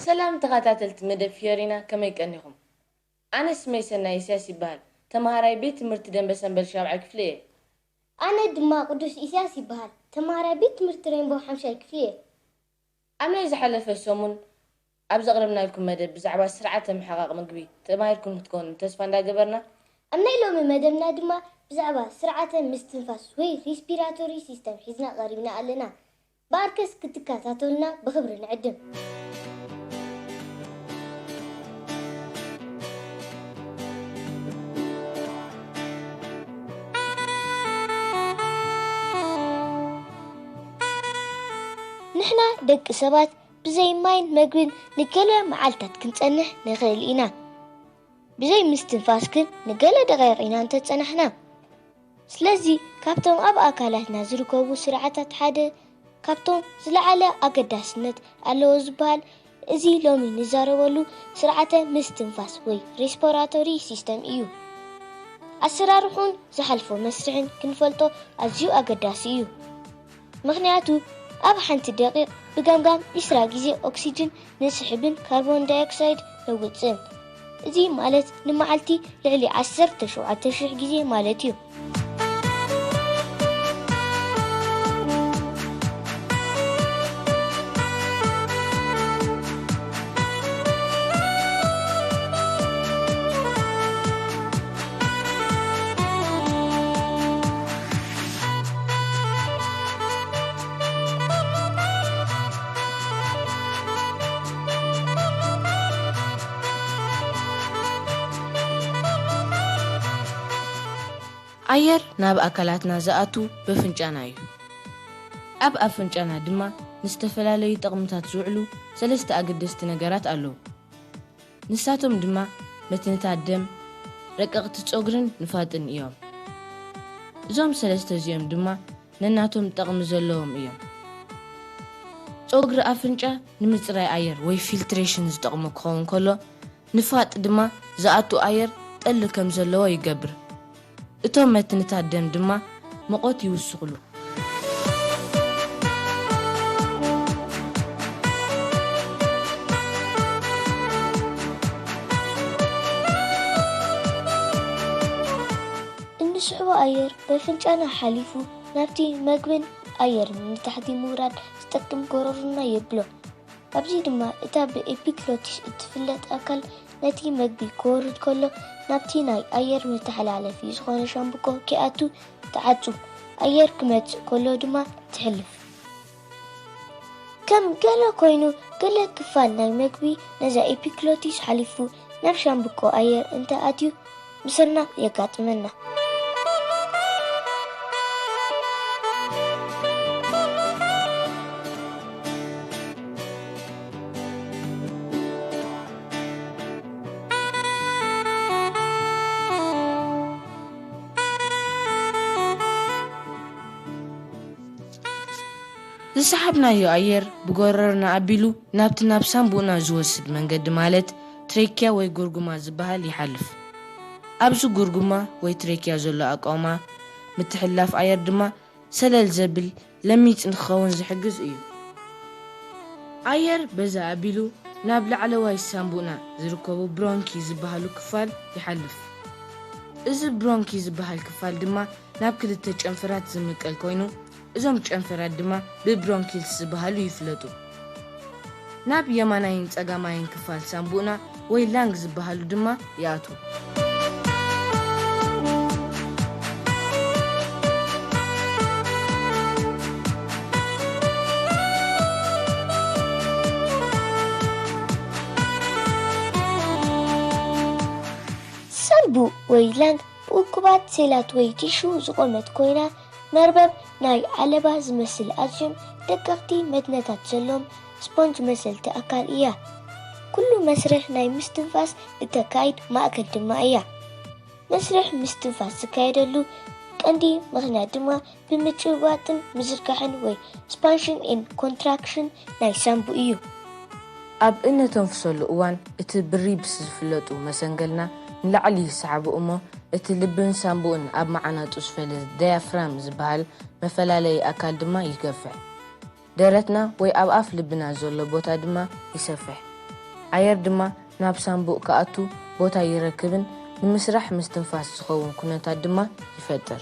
ሰላም ተኻታተልቲ መደብ ፍዮሪና ከመይ ቀኒኹም ኣነ ስመይ ሰናይ ኢስያስ ይበሃል ተማሃራይ ቤት ትምህርቲ ደንበ ሰንበል ሻብዓይ ክፍሊ እየ። ኣነ ድማ ቁዱስ ኢስያስ ይበሃል ተማሃራይ ቤት ትምህርቲ ሬንቦው ሓምሻይ ክፍሊ እየ። ኣብ ናይ ዝሓለፈ ሰሙን ኣብ ዘቕረብናልኩም መደብ ብዛዕባ ስርዓተ ምሕቓቕ ምግቢ ተማሂርኩም ክትኮኑ ተስፋ እንዳገበርና፣ ኣብ ናይ ሎሚ መደብና ድማ ብዛዕባ ስርዓተ ምስትንፋስ ወይ ሪስፒራቶሪ ሲስተም ሒዝና ቀሪብና ኣለና ብኣርከስ ክትከታተሉና ብኽብሪ ንዕድም። ንሕና ደቂ ሰባት ብዘይ ማይን መግብን ንገለ መዓልታት ክንጸንሕ ንኽእል ኢና። ብዘይ ምስትንፋስ ግን ንገለ ደቓይቕ ኢና እንተጸናሕና። ስለዚ ካብቶም ኣብ ኣካላትና ዝርከቡ ስርዓታት ሓደ ካብቶም ዝለዓለ ኣገዳስነት ኣለዎ ዝበሃል እዚ ሎሚ ንዛረበሉ ስርዓተ ምስትንፋስ ወይ ሬስፖራቶሪ ሲስተም እዩ። ኣሰራርሑን ዝሓልፎ መስርሕን ክንፈልጦ ኣዝዩ ኣገዳሲ እዩ። ምኽንያቱ ኣብ ሓንቲ ደቒቕ ብገምጋም ዕስራ ግዜ ኦክስጅን ንስሕብን ካርቦን ዳይኦክሳይድ ነውጽእን። እዚ ማለት ንመዓልቲ ልዕሊ ዓሰርተ ሸውዓተ ሽሕ ግዜ ማለት እዩ። ኣየር ናብ ኣካላትና ዝኣቱ በፍንጫና እዩ። ኣብ ኣፍንጫና ድማ ንዝተፈላለዩ ጠቕምታት ዝውዕሉ ሰለስተ ኣገደስቲ ነገራት ኣለዉ። ንሳቶም ድማ መትንታት ደም፣ ረቀቕቲ ጸጉርን ንፋጥን እዮም። እዞም ሰለስተ እዚኦም ድማ ነናቶም ጠቕሚ ዘለዎም እዮም። ጸጉሪ ኣፍንጫ ንምጽራይ ኣየር ወይ ፊልትሬሽን ዝጠቕሞ ክኸውን ከሎ፣ ንፋጥ ድማ ዝኣቱ ኣየር ጠሊ ከም ዘለዎ ይገብር። እቶም መትንታት ደም ድማ ምቖት ይውስኹሉ። እንስሕቦ ኣየር በፍንጫና ሓሊፉ ናብቲ መግብን ኣየርን ንታሕቲ ምውራድ ዝጠቅም ጎሮሮና የብሎ። ኣብዚ ድማ እታ ብኤፒግሎቲስ እትፍለጥ ኣካል ነቲ መግቢ ክወርድ ከሎ ናብቲ ናይ ኣየር መተሓላለፊ ዝኾነ ሻምብቆ ከይኣቱ ትዓጹ፣ ኣየር ክመጽእ ከሎ ድማ ትሕልፍ። ከም ገለ ኮይኑ ገለ ክፋል ናይ መግቢ ነዛ ኤፒክሎቲስ ሓሊፉ ናብ ሻምብቆ ኣየር እንተ ኣትዩ ምስና የጋጥመና። ዝሰሓብናዮ ኣየር ብጎረሮና ኣቢሉ ናብቲ ናብ ሳንቡእና ዝወስድ መንገዲ ማለት ትሬኪያ ወይ ጉርጉማ ዝበሃል ይሓልፍ። ኣብዚ ጉርጉማ ወይ ትሬኪያ ዘሎ ኣቃውማ ምትሕልላፍ ኣየር ድማ ሰለል ዘብል ለሚጽ ንክኸውን ዝሕግዝ እዩ። ኣየር በዚ ኣቢሉ ናብ ላዕለዋይ ሳንቡእና ዝርከቡ ብሮንኪ ዝበሃሉ ክፋል ይሓልፍ። እዚ ብሮንኪ ዝበሃል ክፋል ድማ ናብ ክልተ ጨንፈራት ዝምቀል ኮይኑ፣ እዞም ጨንፈራት ድማ ብብሮንኪልስ ዝበሃሉ ይፍለጡ። ናብ የማናይን ጸጋማይን ክፋል ሳንቡእና ወይ ላንግ ዝበሃሉ ድማ ይኣትዉ። ሳንቡእ ወይ ላንግ ብእኩባት ሴላት ወይ ቲሹ ዝቖመት ኮይና፣ መርበብ ናይ ዓለባ ዝመስል ኣዝዮም ደቀቕቲ መትነታት ዘለዎም ስፖንጅ መሰልቲ ኣካል እያ። ኩሉ መስርሕ ናይ ምስትንፋስ እተካይድ ማእከል ድማ እያ። መስርሕ ምስትንፋስ ዝካየደሉ ቀንዲ ምኽንያት ድማ ብምጭብባጥን ምዝርጋሕን ወይ ስፓንሽን ኤን ኮንትራክሽን ናይ ሳንቡ እዩ። ኣብ እነተንፍሰሉ እዋን እቲ ብሪብስ ዝፍለጡ መሰንገልና ንላዕሊ ይሰዓቡ እሞ እቲ ልብን ሳንቡእን ኣብ መዓናጡ ዝፈለ ዳያፍራም ዝበሃል መፈላለዪ ኣካል ድማ ይገፍሕ። ደረትና ወይ ኣብ ኣፍ ልብና ዘሎ ቦታ ድማ ይሰፍሕ። ኣየር ድማ ናብ ሳንቡእ ክኣቱ ቦታ ይረክብን ንምስራሕ ምስትንፋስ ዝኸውን ኩነታት ድማ ይፈጥር።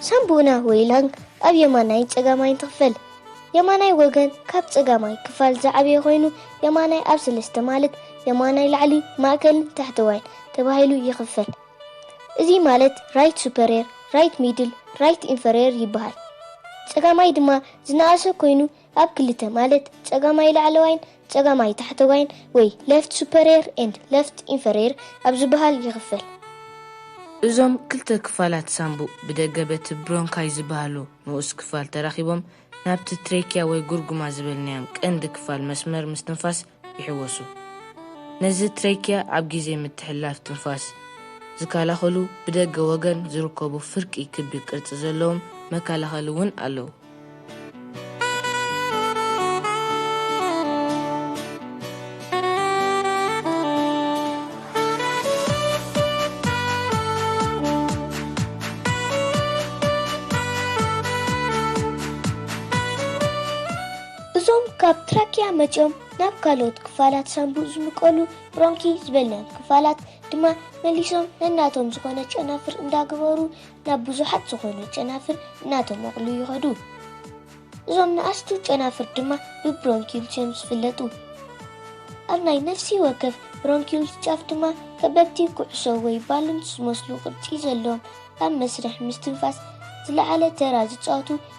ሳምቡና ወይ ላንግ ኣብ የማናይን ጸጋማይን ትኽፈል። የማናይ ወገን ካብ ጸጋማይ ክፋል ዝዓበየ ኮይኑ የማናይ ኣብ ሰለስተ ማለት የማናይ ላዕሊ፣ ማእከልን ታሕተዋይን ተባሂሉ ይኽፈል። እዚ ማለት ራይት ሱፐርየር፣ ራይት ሚድል፣ ራይት ኢንፈርየር ይበሃል። ጸጋማይ ድማ ዝነኣሰ ኮይኑ ኣብ ክልተ ማለት ጸጋማይ ላዕለዋይን ጸጋማይ ታሕተዋይን ወይ ለፍት ሱፐርየር ኤንድ ለፍት ኢንፈርየር ኣብ ዝበሃል ይኽፈል። እዞም ክልተ ክፋላት ሳንቡእ ብደገ በቲ ብሮንካይ ዝበሃሉ ንኡስ ክፋል ተራኺቦም ናብቲ ትሬኪያ ወይ ጉርጉማ ዝበልናዮም ቀንዲ ክፋል መስመር ምስትንፋስ ይሕወሱ። ነዚ ትሬኪያ ኣብ ግዜ ምትሕልላፍ ትንፋስ ዝከላኸሉ ብደገ ወገን ዝርከቡ ፍርቂ ክቢ ቅርጺ ዘለዎም መከላኸሊ እውን ኣለዉ። እዞም ካብ ትራኪያ መጺኦም ናብ ካልኦት ክፋላት ሳንቡእ ዝምቀሉ ብሮንኪ ዝበልናዮም ክፋላት ድማ መሊሶም ነናቶም ዝኾነ ጨናፍር እንዳገበሩ ናብ ብዙሓት ዝኾኑ ጨናፍር እናተመቕሉ ይኸዱ። እዞም ንኣሽቱ ጨናፍር ድማ ብብሮንኪዩልስ እዮም ዝፍለጡ። ኣብ ናይ ነፍሲ ወከፍ ብሮንኪዩልስ ጫፍ ድማ ከበድቲ ኩዕሶ ወይ ባሉንስ ዝመስሉ ቅርጺ ዘለዎም ኣብ መስርሕ ምስትንፋስ ዝለዓለ ተራ ዝጻወቱ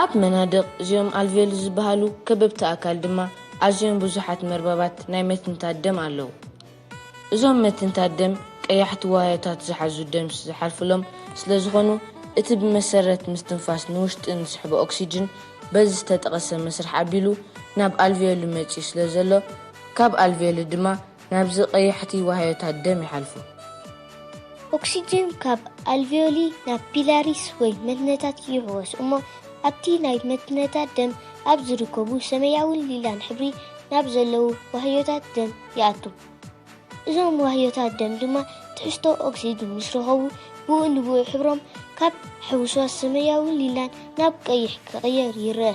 ኣብ መናድቕ እዚኦም ኣልቬሉ ዝበሃሉ ከበብቲ ኣካል ድማ ኣዝዮም ብዙሓት መርበባት ናይ መትንታት ደም ኣለዉ። እዞም መትንታት ደም ቀያሕቲ ዋህዮታት ዝሓዙ ደምስ ዝሓልፉሎም ስለ ዝኾኑ እቲ ብመሰረት ምስትንፋስ ንውሽጢ እንስሕቦ ኦክሲጅን በዚ ዝተጠቐሰ መስርሕ ኣቢሉ ናብ ኣልቬሉ መጺኡ ስለ ዘሎ ካብ ኣልቬሉ ድማ ናብዚ ቀያሕቲ ዋህዮታት ደም ይሓልፉ። ኦክሲጅን ካብ ኣልቬዮሊ ናብ ፒላሪስ ወይ መትንታት ይሕወስ እሞ ኣብቲ ናይ መትንታት ደም ኣብ ዝርከቡ ሰመያውን ሊላን ሕብሪ ናብ ዘለዉ ዋህዮታት ደም ይኣቱ። እዞም ዋህዮታት ደም ድማ ትሕዝቶ ኦክሲጅን ምስ ረኸቡ ብኡ ንብኡ ሕብሮም ካብ ሕውስዋስ ሰመያውን ሊላን ናብ ቀይሕ ክቕየር ይረኣ።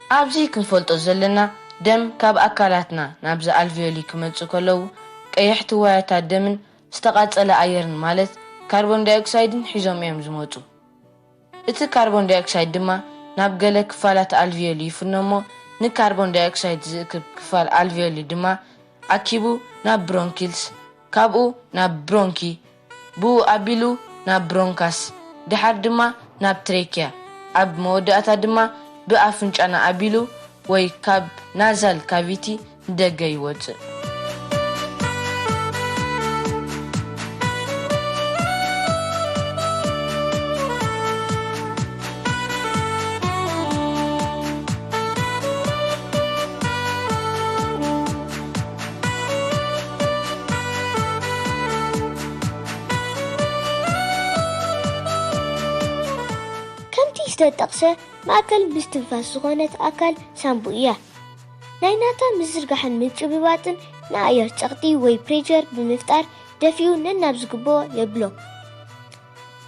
ኣብዚ ክንፈልጦ ዘለና ደም ካብ ኣካላትና ናብዛ ኣልቪዮሊ ክመጽኡ ከለዉ ቀያሕቲ ዋያታት ደምን ዝተቓጸለ ኣየርን ማለት ካርቦን ዳይኦክሳይድን ሒዞም እዮም ዝመጹ። እቲ ካርቦን ዳይኦክሳይድ ድማ ናብ ገለ ክፋላት ኣልቪዮሊ ይፍኖ እሞ ንካርቦን ዳይኦክሳይድ ዝእክብ ክፋል ኣልቪዮሊ ድማ ኣኪቡ ናብ ብሮንኪልስ ካብኡ ናብ ብሮንኪ ብኡ ኣቢሉ ናብ ብሮንካስ፣ ድሓር ድማ ናብ ትሬኪያ፣ ኣብ መወዳእታ ድማ ብኣፍንጫና ኣቢሉ ወይ ካብ ናዛል ካቪቲ ንደገ ይወጽእ። ከምቲ ዝተጠቕሰ ማእከል ምስትንፋስ ዝኾነት ኣካል ሳንቡእ እያ። ናይ ናታ ምዝርጋሕን ምጭብባጥን ንኣየር ጸቕጢ ወይ ፕሬቸር ብምፍጣር ደፊኡ ነናብ ዝግብኦ የብሎ።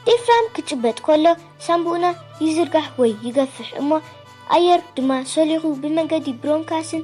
ዴፍራም ክጭበጥ ከሎ ሳንቡእና ይዝርጋሕ ወይ ይገፍሕ እሞ ኣየር ድማ ሰሊኹ ብመንገዲ ብሮንካስን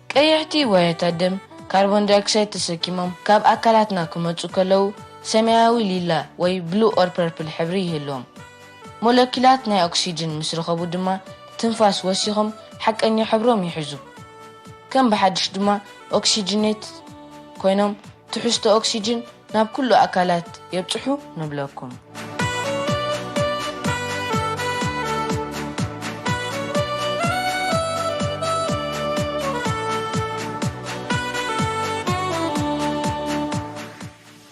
ቀይሕቲ ዋያታት ደም ካርቦን ዳይኦክሳይድ ተሰኪሞም ካብ ኣካላትና ክመጹ ከለዉ ሰማያዊ ሊላ ወይ ብሉ ኦር ፐርፕል ሕብሪ ይህልዎም። ሞለኪላት ናይ ኦክሲጅን ምስ ረኸቡ ድማ ትንፋስ ወሲኾም ሓቀኛ ሕብሮም ይሕዙ። ከም ብሓድሽ ድማ ኦክሲጅኔት ኮይኖም ትሕዝቶ ኦክሲጅን ናብ ኩሉ ኣካላት የብጽሑ ንብለኩም።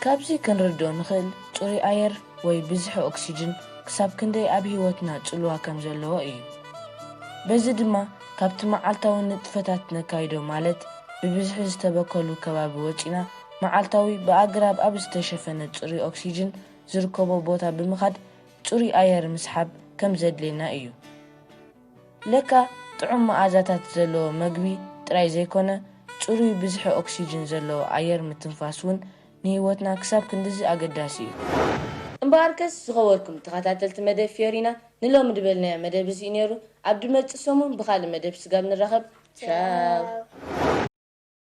ካብዚ ክንርድኦ ንኽእል ጽሩይ ኣየር ወይ ብዝሒ ኦክስጅን ክሳብ ክንደይ ኣብ ህይወትና ጽልዋ ከም ዘለዎ እዩ። በዚ ድማ ካብቲ መዓልታዊ ንጥፈታት ነካይዶ ማለት ብብዝሒ ዝተበከሉ ከባቢ ወጺና መዓልታዊ ብኣግራብ ኣብ ዝተሸፈነ ጽሩይ ኦክስጅን ዝርከቦ ቦታ ብምኻድ ጽሩይ ኣየር ምስሓብ ከም ዘድልየና እዩ። ለካ ጥዑም መኣዛታት ዘለዎ መግቢ ጥራይ ዘይኮነ፣ ጽሩይ ብዝሒ ኦክስጅን ዘለዎ ኣየር ምትንፋስ እውን ንህይወትና ክሳብ ክንድዚ ኣገዳሲ እዩ። እምበኣርከስ ዝኸበርኩም ተኸታተልቲ መደብ ፍዮሪና ንሎሚ ድበልናዮ መደብ እዚ እዩ ነይሩ። ኣብ ድመጽእ ሰሙን ብኻልእ መደብ ስጋብ ንራኸብ ቻው።